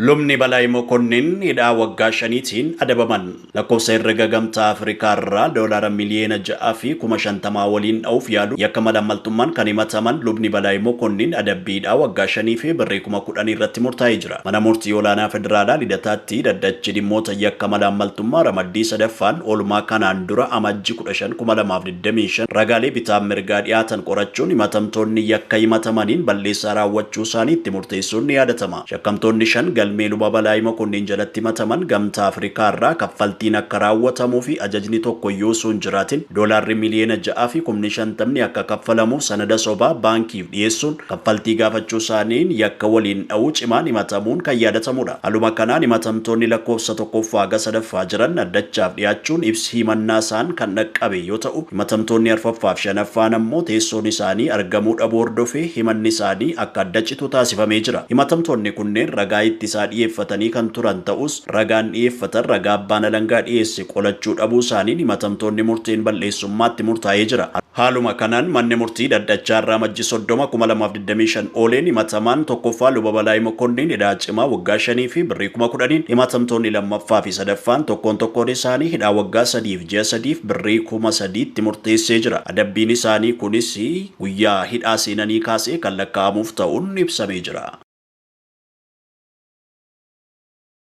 Lubni Balaay Mokonnin hidhaa waggaa shaniitiin adabaman. Lakkoofsa herrega Gamtaa Afrikaarraa doolaara miliyeena ja'a fi kuma shantamaa waliin dha'uuf yaaluun yakka malaammaltummaan kan himataman Lubni Balaay Mokonnin adabbii hidhaa waggaa shanii fi birrii kuma kudhanii irratti murtaa'ee jira. Mana Murtii Olaanaa Federaalaa Lidataatti Dhaddachi Dhimmoota Yakka Malaammaltummaa Ramaddii sadaffaan oolmaa kanaan dura Amajji kudha shan, kuma lamaa fi digdamii afur, 25 ragaalee bitaa mirgaa dhiyaatan qorachuun himatamtoonni yakka himatamaniin balleessaa raawwachuu isaanii itti murteessuun ni yaadatama. Shakkamtoonni shan galmee Luba Balaay Mokonnin jalatti himataman Gamtaa Afrikaa irraa kaffaltiin akka raawwatamuu fi ajajni tokko iyyuu osoo hin jiraatin doolaarri miliyoona 6 fi kumni 50 akka kaffalamu sanada sobaa baankiif dhiyeessuun kaffaltii gaafachuusaaniin yakka waliin dha'uu cimaan himatamuun kan yaadatamudha. Haluma kanaan himatamtoonni lakkoofsa 1ffaa haga 3ffaa jiran dhaddachaaf dhiyaachuun ibsi himannaasaan kan dhaqqabe yoo ta'u, himatamtoonni arfaffaaf shanaffaan ammoo teessoon isaanii argamuu dhabuu hordofee himanni isaanii akka adda citu taasifamee jira. Himatamtoonni kunneen ragaa ittisaa dhiyeeffatanii kan turan ta'us, ragaan dhiyeeffatan ragaa abbaan alangaa dhiyeesse qolachuu dhabuu isaaniin himatamtoonni murteen bal'eessummaa itti murtaa'ee jira. Haaluma kanaan Manni Murtii Dhaddachaa irraa Amajji 30, 2025 ooleen himatamaan 1ffaa Luba Balaay Mokonniin hidhaa cimaa waggaa 5 fi birrii kuma 10n, himatamtoonni 2ffaa fi 3ffaan tokkoon tokkoon isaanii hidhaa waggaa 3 fi ji'a 3 fi birrii kuma 3 itti murteessee jira. Adabbiin isaanii kunis guyyaa hidhaa seenanii kaasee kan lakkaa'amuuf ta'uun ibsamee jira.